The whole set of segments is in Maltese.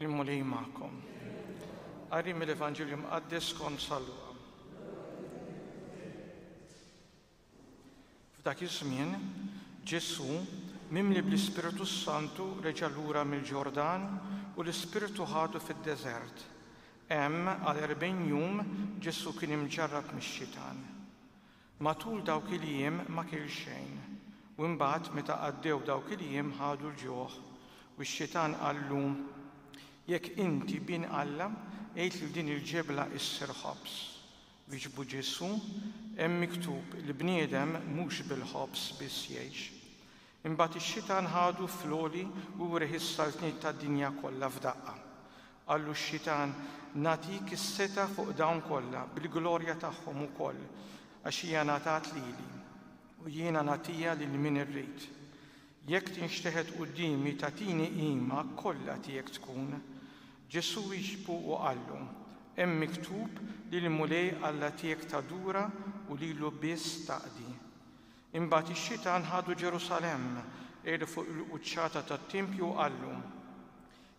Il-Mulej magħkom. Qari mill-Evanġelju Mqaddes skont San Luqa. F'dak iż-żmien, Ġesù, mimli bl-Ispirtu s-Santu, reġa' lura mill-Ġordan u l-Ispirtu ħadu fid-deżert. Hemm għal erbgħin jum Ġesù kien imġarrab mix-xitan. Matul dawk il-jiem ma kiel xejn, u imbagħad meta għaddew dawk il-jiem ħadu l-ġuħ, u x-xitan qallu, Jekk inti Bin Alla, għid lil din il-ġebla issir ħobż. Wieġbu Ġesù, Hemm miktub, L-bniedem mhux bil-ħobż biss jgħix. Imbagħad ix-xitan ħadu fl-għoli u wrieh is-saltniet tad-dinja kollha f'daqqa. Qallu x-xitan, Nagħtik is-setgħa fuq dawn kollha, bil-glorja tagħhom ukoll, għax hija ngħatat lili, u jiena nagħtiha lil min irrid. Jekk tinxteħet quddiemi tagħtini qima, kollha tiegħek tkun. Ġesù wieġbu u qallu, Hemm miktub, Lill-Mulej Alla tiegħek tadura u lilu biss taqdi. Imbagħad ix-xitan ħadu Ġerusalemm, qegħdu fuq il-quċċata tat-tempju u qallu,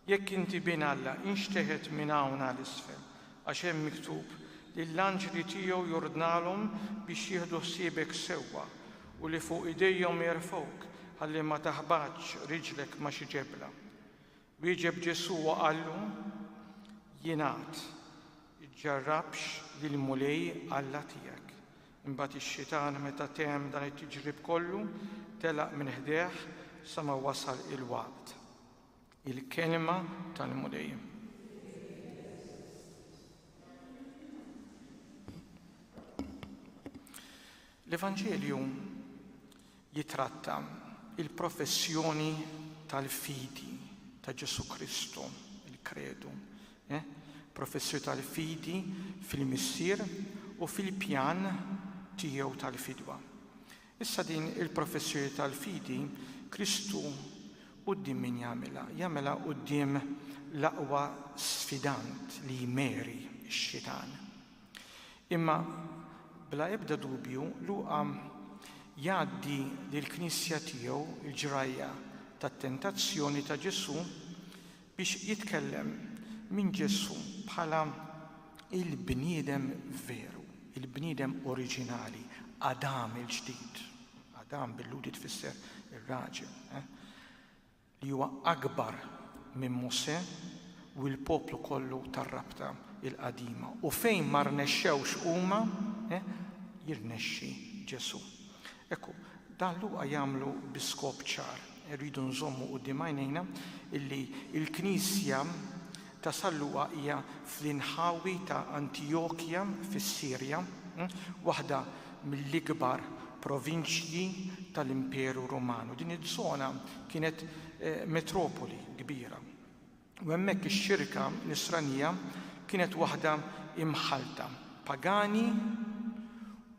Jekk inti Bin Alla, inxteħet minn hawn għal isfel, għax hemm miktub, Lill-anġli tiegħu jordnalhom biex jieħdu ħsiebek sewwa, u li fuq idejhom jerfgħuk, ħalli ma taħbatx riġlek ma' xi ġebla. Wieġeb Ġesù u qallu, Jingħad, Iġġarrabx lill-Mulej Alla tiegħek. Imbagħad ix-xitan meta temm dan it-tiġrib kollu, telaq minn ħdejh sa ma wasal il-waqt. Il-Kelma tal-Mulej. L-Evanġelju jitratta il-professjoni tal-fidi ta' Ġesu Kristu, il-kredu, eh? professju tal-fidi fil-missier u fil-pjan tiegħu tal-fidwa. Issa din il-professjoni tal-fidi Kristu quddiem min jagħmilha? Jagħmilha quddiem l-aqwa sfidant li hi Mary, ix-Xitan. Imma bla ebda dubju Luqa jgħaddi lill-Knisja tiegħu l-ġrajja tat-tentazzjoni ta' Ġesù biex jitkellem minn Ġesù bħala l-bniedem veru, il-bniedem oriġinali, Adam il-ġdid. Adam bil-Lhudi tfisser ir-raġel, eh? li huwa akbar minn Mosè u l-poplu kollu tar-rabta il-qadima. U fejn ma rnexxewx huma, eh? jirnexxi Ġesù. Hekk hu. Dan Luqa jagħmlu bi skop ċar. Irridu nżommu quddiem għajnejna illi l-Knisja ta' San Luqa hija fl-inħawi ta' Antijokja fis-Sirja, waħda mill-ikbar provinċji tal-Imperu Ruman, u din iż-żona kienet metropoli kbira. U hemmhekk ix-xirka Nisranija kienet waħda imħallta, pagani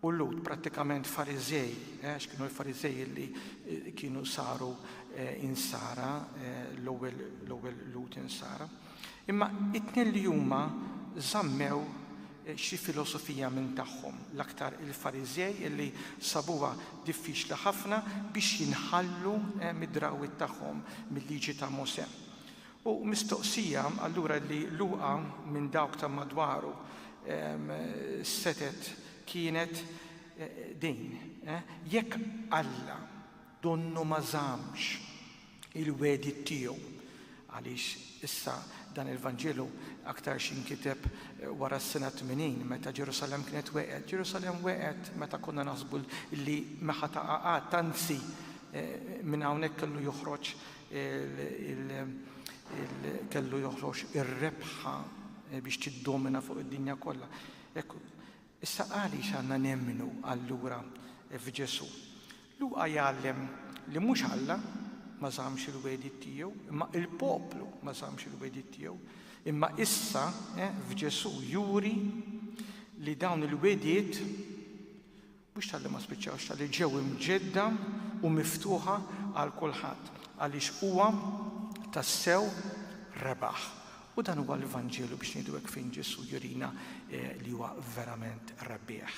u Lhud, prattikament Fariżej, għax kienu l-Fariżej li kienu saru insara, l-ewwel Lhud insara. Imma it-tnejn li huma żammew xi filosofija minn tagħhom, l-aktar il-Fariżej li sabuha diffiċli ħafna biex jinħallu mid-drawwiet tagħhom, mil-Liġi ta' Mosè. U mistoqsija allura li Luqa minn dawk ta' madwaru setgħet kienet din, Jekk Alla donnu ma żammx il-wegħdiet tiegħu, għaliex issa dan il-Vanġelu aktarx inkiteb wara s-sena tmenin meta Ġerusalemm kienet wegħet, Ġerusalemm wegħet meta konna naħsbu li ma ħa taqa' qatt, anzi minn hawnhekk kellu joħroġ Kellu joħroġ ir-rebħa biex tiddomina fuq id-dinja kollha. Issa għaliex għandna nemmnu allura f'Ġesù? Luqa jgħallem li mhux Alla ma żammx il-wegħdiet tiegħu, imma l-poplu ma żammx il-wegħdiet tiegħu. Imma issa f'Ġesù juri li dawn il-wegħdiet biex talli ma spiċċawx, talli ġew imġedda u miftuħa għal kulħadd, għaliex huwa tassew rebaħ. U dan huwa l-Vanġelu biex ngħidu hekk fejn Ġesù jurina li huwa verament rebbieħ.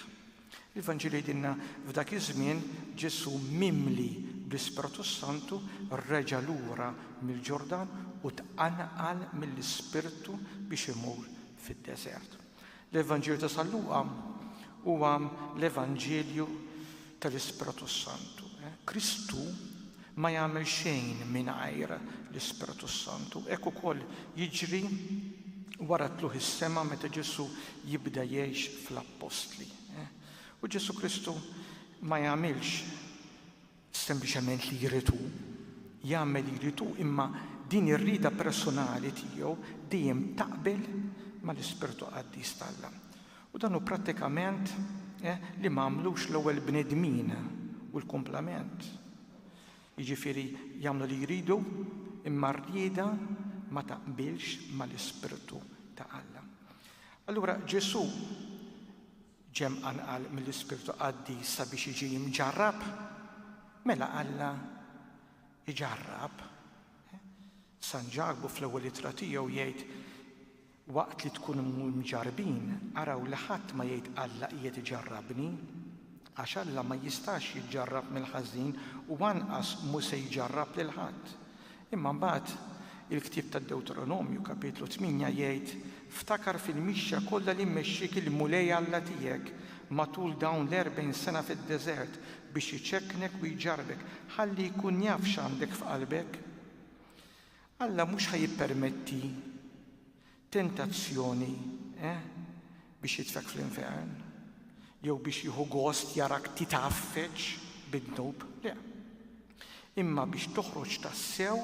Il-Vanġelu jgħidilna f'dak iż-żmien Ġesù mimli bl-Ispirtu Santu reġa' lura mill-Ġordan u tqanqal mill-Ispirtu biex imur fid-deżert. L-Evanġelju ta' San Luqa huwa l-Evanġelju tal-Ispirtu s-Santu. Eh? Kristu ma jagħmel xejn mingħajr l-Ispirtu s-Santu. Hekk ukoll jiġri wara tluħ is-sema meta Ġesu jibda jgħix fl-appostli. Eh? U Ġesu Kristu ma jagħmilx sempliċement li jrid hu, jagħmel li jrid hu imma din ir-rieda personali tiegħu dejjem taqbel mal-ispirtu qaddis t'Alla. U dan hu prattikament eh, li m'għamlux l-ewwel bnedmin u l-kumplament. Jiġifieri jagħmlu li jridu imma r-rieda ma taqbilx mal-ispirtu ta' Alla. Allura Ġesù Ġie mqanqal mill-Ispirtu Qaddis sabiex jiġi mġarrab? Mela Alla iġarrab. San Ġakbu fl-ewwel ittra tiegħu jgħid waqt li tkun mġarbin, araw li ħadd ma jgħid Alla qiegħed iġarrabni, għax Alla ma jistax jiġġarrab mill-ħażin u anqas mhu se jġarrab lil ħadd. Imma mbagħad il-ktieb tad-Dewteronomju, Kapitlu tmienja, jgħid, Ftakar fil-mixja kollha li mmexxiek il-Mulej Alla tiegħek matul dawn l-erbgħin sena fid-deżert biex iċekknek u jġarrbek, ħalli jkun jaf x'għandek f'qalbek. Alla mhux ħa jippermetti Tentazzjoni, eh? Biex jitfgħek fl-infern? Jew biex jieħu gost jarak titgħaffeġ bid-dnub? Le. Imma biex toħroġ tassew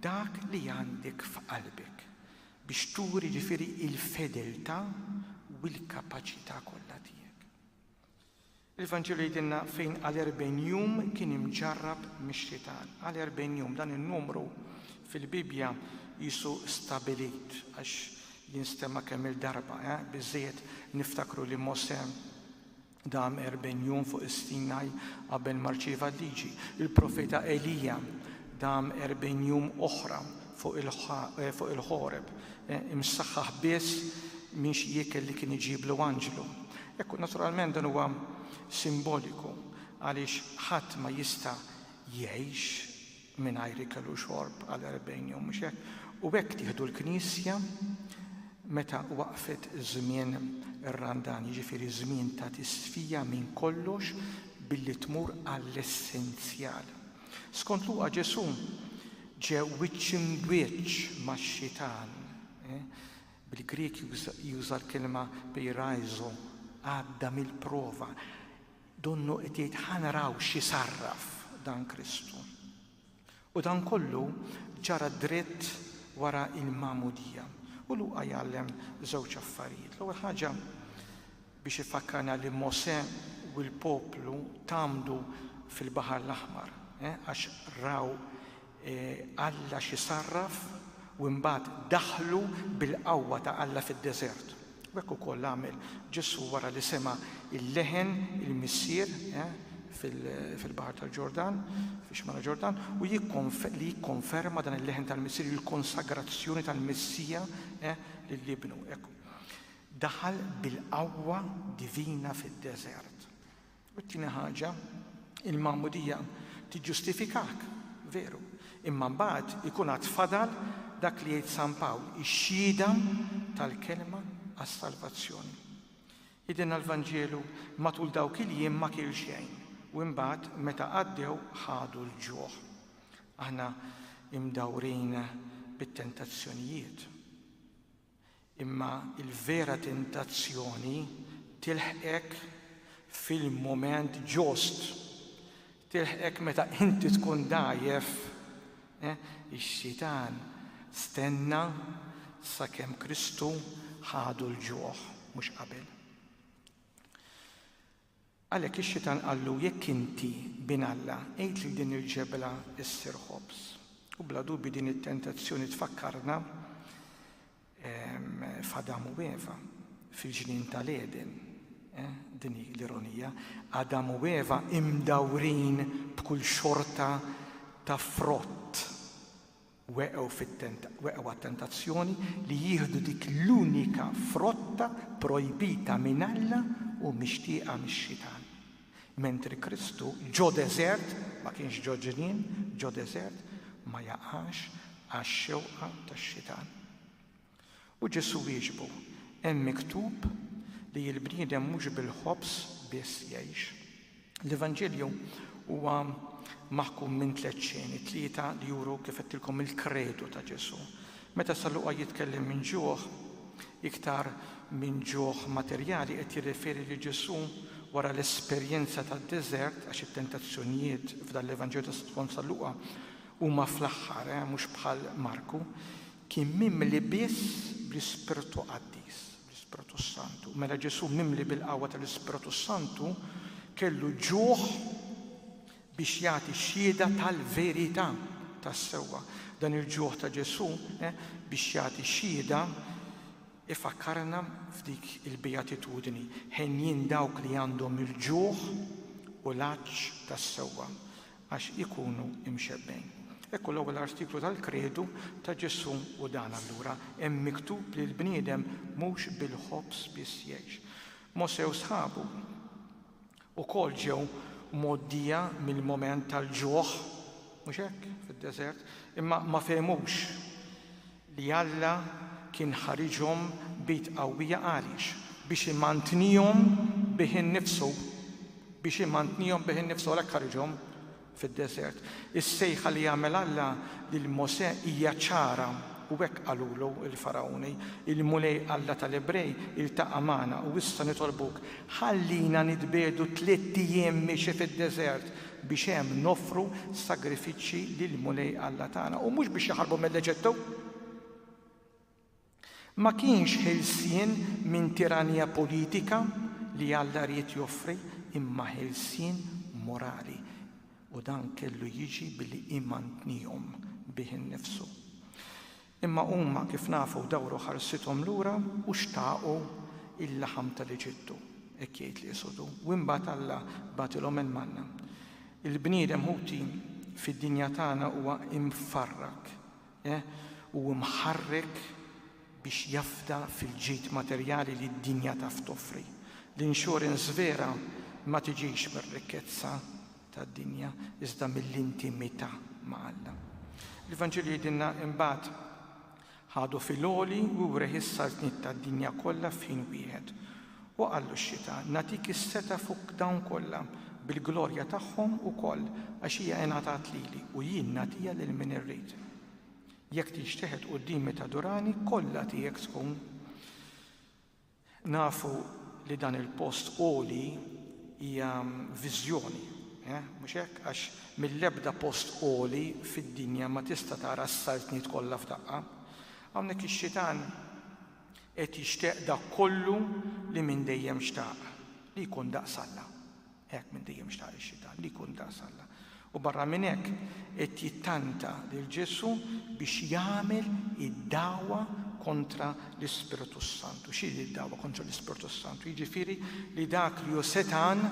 dak li għandek f'qalbek, biex turi ġifieri l-fedeltà u l-kapaċità kollha tiegħek. Il-Vanġelu jgħidilna fejn għal erbgħin jum kien imġarrab mix-xitan. Għal erbgħin jum, dan in-numru fil-Bibbja qisu stabbilit għax jinstema' kemm-il darba, eh? Biżżejjed niftakru li Mosè dam erbgħin jum fuq is-Sinaj qabel ma rċieva l-Liġi. Il-profeta Elija dam erbgħin jum oħra fuq il-Ħoreb, imsaħħaħ biss minn xi ikel li kien iġiblu anġlu. Ekku, naturalment dan huwa simboliku għaliex ħadd ma jista' jgħix mingħajr ikel u xorb għal erbgħin jum, mhux hekk? U hekk tieħdu l-Knisja meta waqfet żmien ir-Randan, jiġifieri żmien ta' tisfija minn kollox billi tmur għall-essenzjal. Skont Luqa Ġesù ġie wiċċ imb'wiċċ max-xitan. Bil-Grieg juża l-kelma peiraizo, għadda mill-prova. Donnu qed jgħid ħa naraw xi sarraf dan Kristu. U dan kollu ġara dritt wara l-magħmudija. U Luqa jgħallem żewġ affarijiet. L-ewwel ħaġa biex ifakkarna li Mosè u l-poplu tgħammdu fil-Baħar l-Aħmar, għax raw Alla xi sarraf u imbagħad daħlu bil-qawwa ta' Alla fid-deżert. U hekk ukoll għamel Ġesù wara li sema' l-leħen il-Missier fil-Baħar tal-Ġordan, fix-Xmara Ġordan, u li jikkonferma dan il-leħen tal-Missier, il-konsagrazzjoni tal-Messija lil Ibnu. daħal bil-qawwa divina fid-deżert. U t-tieni ħaġa, il-Magħmudija tiġġustifikak, veru, imma mbagħad ikun għad fadal dak li jgħid San Pawl, ix-xhieda tal-kelma għas-salvazzjoni. Jgħidilna l-Vanġelu, matul dawk il-jiem ma kiel xejn, u imbagħad meta għaddew ħadu l-ġuħ. Aħna imdawrin bit-tentazzjonijiet. Imma l-vera tentazzjoni tilħqek fil-mument ġust. Tilħqek meta inti tkun dgħajjef. Eh, Ix-xitan stenna sakemm Kristu ħadu l-ġuħ, mhux qabel. Għalhekk ix-xitan qallu, Jekk inti Bin Alla, għid lil din il-ġebla ssir ħobż. U bla dubju din it-tentazzjoni tfakkarna f'Adam u Eva, fil-ġnien tal-Għeden. Eh, din hi l-ironija. Adam u Eva imdawrin b'kull xorta ta' frott. weqgħu fit-tent, weqgħu għat-tentazzjoni li jieħdu dik l-unika frotta pprojbita minn Alla u mixtieqa mix-Xitan. Mentri Kristu, ġo deżert, ma kienx ġo ġnien, ġo deżert, ma jaqax għax-xewqa tax-Xitan. U Ġesù wieġbu, Hemm miktub li l-bniedem mhux bil-ħobż biss jgħix. L-Evanġelju huwa maħkum minn tliet xeni, tlieta li juru kif għedtilkom il-kredu ta' Ġesù. Meta San Luqa jitkellem minn ġuħ, iktar minn ġuħ materjali qed jirreferi lil Ġesù wara l-esperjenza tad-deżert, għax it-tentazzjonijiet f'dan l-Evanġelju ta' skont San Luqa huma fl-aħħar, mhux bħal Marku, Kien mimli biss bl-Ispirtu Qaddis, bl-Ispirtu s-Santu. Mela Ġesù mimli bil-qawwa tal-Ispirtu s-Santu kellu ġuħ biex jagħti xhieda tal-verità tas-sewwa. Dan il-ġuħ ta' Ġesù biex jagħti xhieda ifakkarna f'dik il-Bejatitudni, Henjin dawk li għandhom il-ġuħ u l-għatx tas-sewwa. għax ikunu mxebbgħin. Ekku l-ewwel artiklu tal-Kredu ta' Ġesù u dan allura, Hemm miktub li l-bniedem mhux bil-ħobż biss jgħix. Mosè u sħabu wkoll ġew mgħoddija mill-mument tal-ġuħ, mhux hekk, fid-deżert, imma ma fehmux li Alla kien ħariġhom b'id qawwija għaliex? Biex imantnihom bih innifsu. Biex imantnihom bih innifsu għalhekk ħariġhom fid-deżert. Is-sejħa li għamel Alla lil Mosè hija ċara u hekk qalulu l-Fargħuni, Il-Mulej Alla tal-Ebrej iltaqa' magħna u issa nitolbuk, ħallina nitbiegħdu tliet ijiem mixi fid-deżert biex hemm noffru sagrifiċċji lill-Mulej Alla tagħna u mhux biex jaħarbu mill-Eġittu. Ma kienx ħelsien minn tiranija politika li Alla ried joffri imma ħelsien morali u dan kellu jiġi billi imantnihom bih innifsu. Imma huma, kif nafu, dawru ħarsithom lura u xtaqu il-laħam tal-Eġittu, hekk jgħid l-Esodu, u imbagħad Alla bagħatilhom il-manna. Il-bniedem, ħuti, fid-dinja tagħna huwa mfarrak u mħarrek biex jafda fil-ġid materjali li d-dinja taf toffri. L-insurance vera ma tiġix mir-rikkezza tad-dinja, iżda mill-intimità ma' Alla. L-Ivanġelju jgħidilna, Imbagħad ħadu fil-għoli u wrieh is-saltniet tad-dinja kollha f'ħin wieħed. U qallu x-Xitan, Nagħtik is-setgħa fuq dawn kollha, bil-glorja tagħhom ukoll, għax hija ingħatat lili, u jien nagħtiha lil min irrid. Jekk tinxteħet quddiemi tadurani, kollha tiegħek tkun. Nafu li dan il-post għoli hija viżjoni, mhux hekk? Għax mill-ebda post għoli fid-dinja ma tista' tara s-saltniet kollha f'daqqa. Hawnhekk ix-Xitan qed jixtieq dak kollu li minn dejjem xtaq, li jkun daqs Alla. Hekk minn dejjem xtaq ix-Xitan li jkun daqs Alla. U barra minn hekk, qed jittanta lil Ġesù biex jagħmel id-dagħwa kontra l-Ispirtu s-Santu. X'hi d-dagħwa kontra l-Ispirtu s-Santu? Jiġifieri li dak li hu setgħan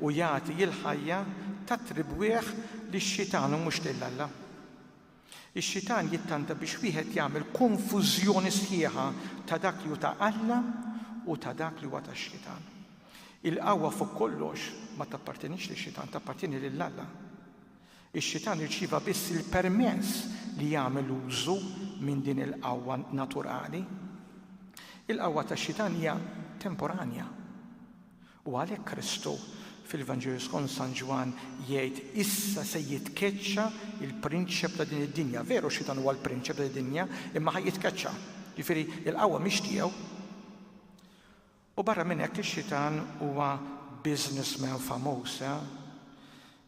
u jagħti l-ħajja tattribwih lix-Xitan u mhux lil Alla. Ix-Xitan jittanta biex wieħed jagħmel konfużjoni sħiħa ta' dak li hu ta' Alla u ta' dak li huwa tax-Xitan. Il-qawwa fuq kollox ma tappartenix lix-Xitan, tappartjeni lil Alla. Ix-Xitan irċieva biss il-permess li jagħmel użu minn din il-qawwa naturali. Il-qawwa tax-Xitan hija temporanja. U għalhekk Kristu, fil-Vanġelu skont San Ġwann, jgħid, Issa se jitkeċċa l-prinċep ta' din id-dinja. Veru x-Xitan huwa l-prinċep ta' din id-dinja, imma ħa jitkeċċa. Jiġifieri, il-qawwa mhix tiegħu. U barra minn hekk ix-Xitan huwa businessman famuż, eh?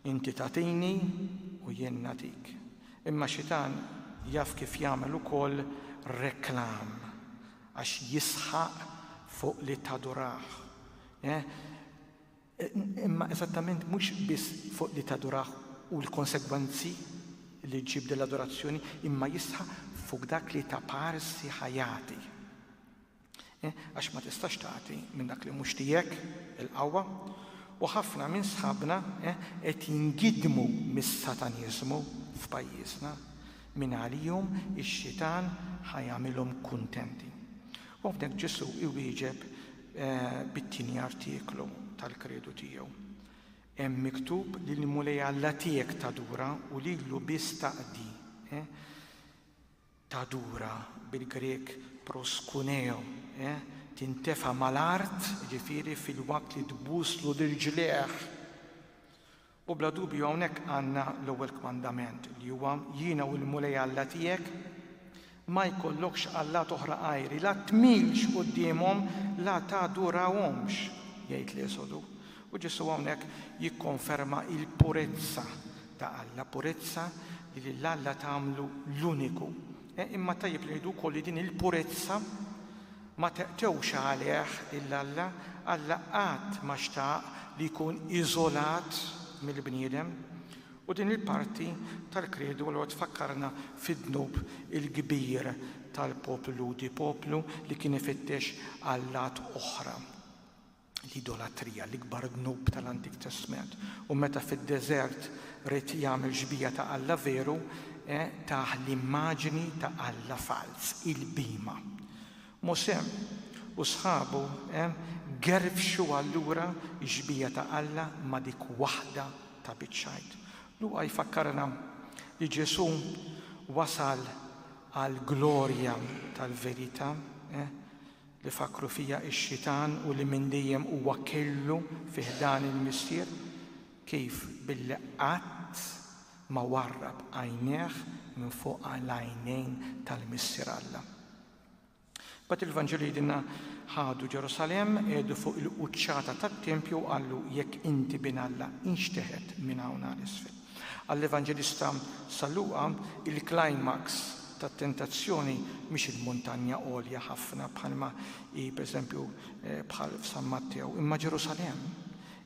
Inti tagħtini u jien nagħtik. Imma xitan jaf kif jagħmel ukoll reklam għax jisħaq fuq li tadurah. Imma eżattament mhux biss fuq li tadurah u l-konsegwenzi li ġġib din l-adorazzjoni imma jisħaq fuq dak li ta parsi ħa jagħti. Għax ma tistax tagħti minn dak li mhux tiegħek, il-qawwa. U ħafna minn sħabna qed jingiddmu mis-Sataniżmu f'pajjiżna. Mingħalihom ix-xitan ħa jagħmilhom kuntenti. U hawnhekk Ġesù iwieġeb bit-tieni artiklu tal-kredu tiegħu. Hemm miktub li l-Mulej Alla tiegħek tadura u lilu biss taqdi. tadura, bil-Grieg proskuneo, tintefa' mal-art, jiġifieri filwaqt li tbuslu l-irġliegħ. U bla dubju hawnhekk għandna l-ewwel kmandament, li huwa, Jiena hu l-Mulej Alla tiegħek, ma jkollokx allat oħra għajri, la tmilx quddiemhom, la tadurahomx, jgħid l-Esodu. U Ġesù hawnhekk jikkonferma l-purezza ta' Alla, purezza li lil Alla tagħmlu l-uniku. Imma tajjeb li ngħidu wkoll li din il-purezza ma teqtewx għalih lil Alla, Alla qatt ma xtaq li jkun iżolat mill-bniedem. U din il-parti tal-kredu allura tfakkarna fid-dnub il-kbir tal-poplu Lhudi, poplu li kien ifittex allat oħra. l-idolatrija, l-ikbar dnub tal-Antik Testment. U meta fid-deżert ried jagħmel xbieha ta' alla veru, tah l-immaġini ta' alla falz, il-bhima. Mosè u sħabu gerfxu allura x-xbieha ta' Alla ma' dik waħda ta' biċċ xgħid. Luqa jfakkarna li Ġesù wasal għall-glorja tal-verità, li fakkru fija x-xitan u li minn dejjem huwa kellu fi ħdan il-Missier, kif billi qatt ma warrab għajnejh minn fuq l-għajnejn tal-Missier Alla. Imbagħad il-Vanġelu jgħidilna, Ħadu Ġerusalemm, qiegħdu fuq il-quċċata tat-tempju u qallu, Jekk inti Bin Alla, inxteħet minn hawn għal isfel. Għall-Evanġelista San Luqa, il-klajmaks tat-tentazzjoni mhix il-muntanja għolja ħafna bħalma hi pereżempju bħal f'San Mattew, imma Ġerusalemm,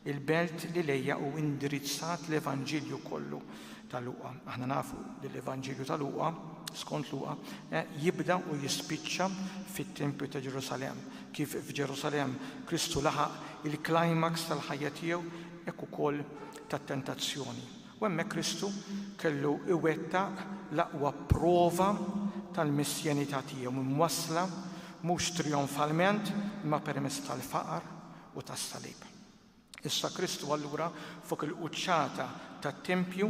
il-belt li lejha hu indirizzat l-Evanġelju kollu ta' Luqa. Aħna nafu li l-Evanġelju ta' Luqa, skont Luqa, jibda u jispiċċa fit-Tempju ta' Ġerusalemm. Kif f'Ġerusalemm Kristu laħaq il-klajmaks tal-ħajja tiegħu, hekk ukoll tat-tentazzjoni, u hemmhekk Kristu kellu jwettaq l-aqwa prova tal-missjenità tiegħu, imwassla mhux trijonfalment imma permezz tal-faqar u tas-salib. Issa Kristu allura fuq il-quċċata tat-tempju,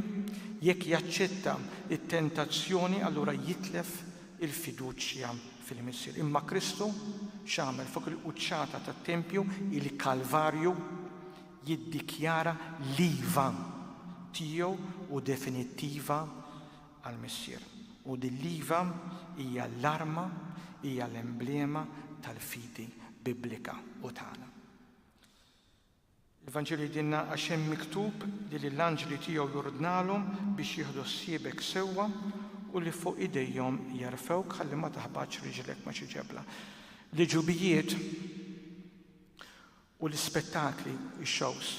jekk jaċċetta t-tentazzjoni allura jitlef il-fiduċja fil-Missier. Imma Kristu x'għamel fuq il-quċċata tat-tempju, il-Kalvarju, jiddikjara l-iva tiegħu u definittiva għall-Missier. U din l-iva hija l-arma, hija l-emblema tal-fidi Biblika u tagħna. Il-Vanġelu jgħidilna, Għax hemm miktub li lill-anġli tiegħu jordnalhom biex jieħdu ħsiebek sewwa u li fuq idejhom jerfgħuk ħalli ma taħbatx riġlek ma' xi ġebla. L-għeġubijiet u l-ispettakli, ix-shows,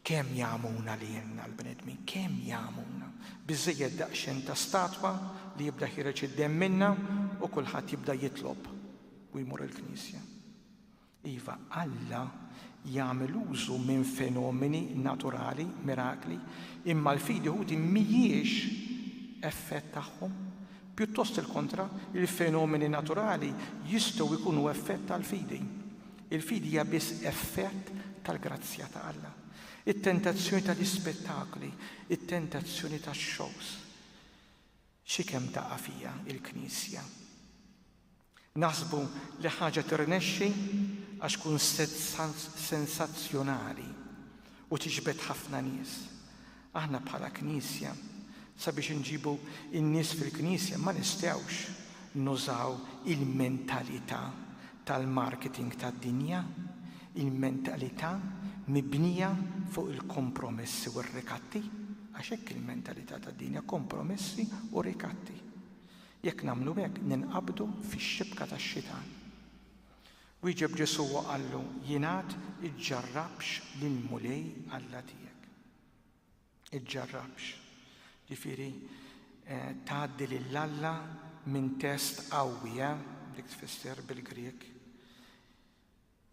kemm jagħmuna lilna l-bnedmin, kemm jagħmuna! Biżżejjed daqsxejn ta' statwa li jibda jħireġ id-demm minnha u kulħadd jibda jitlob u jmur il-knisja. Iva, Alla jagħmel użu minn fenomeni naturali, mirakli, imma l-fidi Ħuti mhijiex effett tagħhom. Pjuttost il-kontra, il-fenomeni naturali jistgħu jkunu effett tal-fidi. Il-fidi hija biss effett tal-grazzja ta' Alla. It-tentazzjoni tal-ispettakli, it-tentazzjoni tax-shows, xi kemm taqa' fiha l-Knisja. Naħsbu li ħaġa tirnexxi għax kunset sensazzjonali u tiġbed ħafna nies. Aħna bħala Knisja sabiex inġibu n-nies fil-Knisja ma nistgħux nużaw il-mentalità tal-marketing tad-dinja, il-mentalità mibnija fuq il-kompromessi u r-rikatti, għax hekk il-mentalità tad-dinja, kompromessi u rikatti. Jekk nagħmlu hekk ninqabdu fix-xibka tax-xitan. Wieġeb Ġesù u qallu, Jien għad, Iġġarrabx lill-Mulej Alla tiegħek. Iġġarrabx, ġifieri tgħaddi lil Alla minn test qawwi, eh? Dik tfisser bil-Grieg.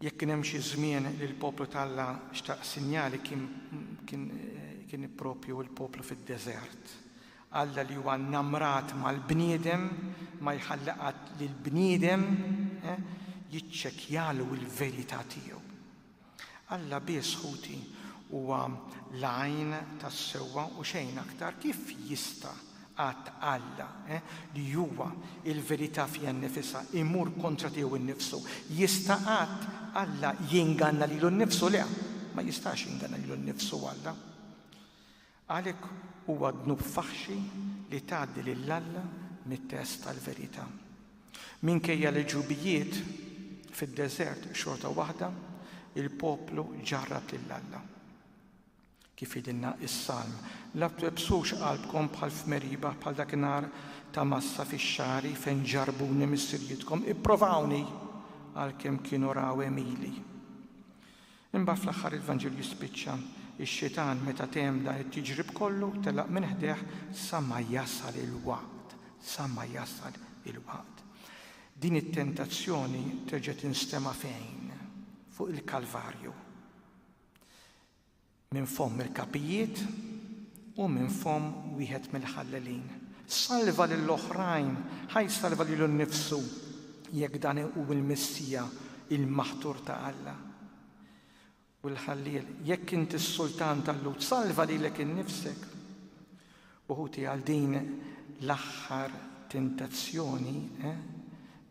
Jekk kien hemm xi żmien li l-poplu ta' Alla xtaq sinjali kien proprju l-poplu fid-deżert. Alla li huwa nnamrat mal-bniedem ma jħalli qatt li l-bniedem jiċċekkjalu l-verità tiegħu. Alla biss, ħuti, huwa l-għajn tas-sewwa u xejn aktar. Kif jista' Għadd Alla, li huwa l-verità fiha nnifisha, imur kontra tiegħu nnifsu. Jista' qatt Alla jinganna lilu nnifsu? Le, ma jistax jinganna lilu nnifsu Alla. Għalhekk huwa dnub faħxi li tgħaddi lil Alla mit-test tal-verità. Minkejja l-ġubijiet fid-deżert xorta waħda, il-poplu ġarrab lil Alla. Kif jgħidilna s-Salm, La twebbsux qalbkom bħal f'Meriba, bħal dak in-nhar ta' Massa fix-xagħri, fejn ġarrbuni missirijietkom, ipprovawni, għalkemm kienu raw għemili. Imbagħad fl-aħħar il-Vanġelu jispiċċa, Ix-Xitan meta temm dan it-tiġrib kollu, telaq minn ħdejh sa ma jasal il-waqt, sa ma jasal il-waqt. Din it-tentazzjoni terġa' tinstema' fejn? Fuq il-Kalvarju. Minn fomm il-kapijiet u minn fomm wieħed mill-ħallelin. Salva lil oħrajn, ħa jsalva lilu nnifsu, jekk dan hu l-Missija, il-Maħtur ta' Alla. U l-ħalliel, jekk int is-Sultan tal-Lhud, salva lilek innifsek. U ħuti għal din l-aħħar tentazzjoni, eh,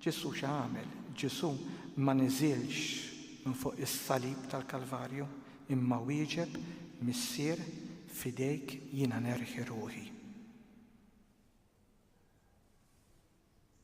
Ġesù x'għamel? Ġesù ma niżilx minn fuq is-salib tal-Kalvarju, imma wieġeb, Missier, f'idejk jiena nerħi ruħi.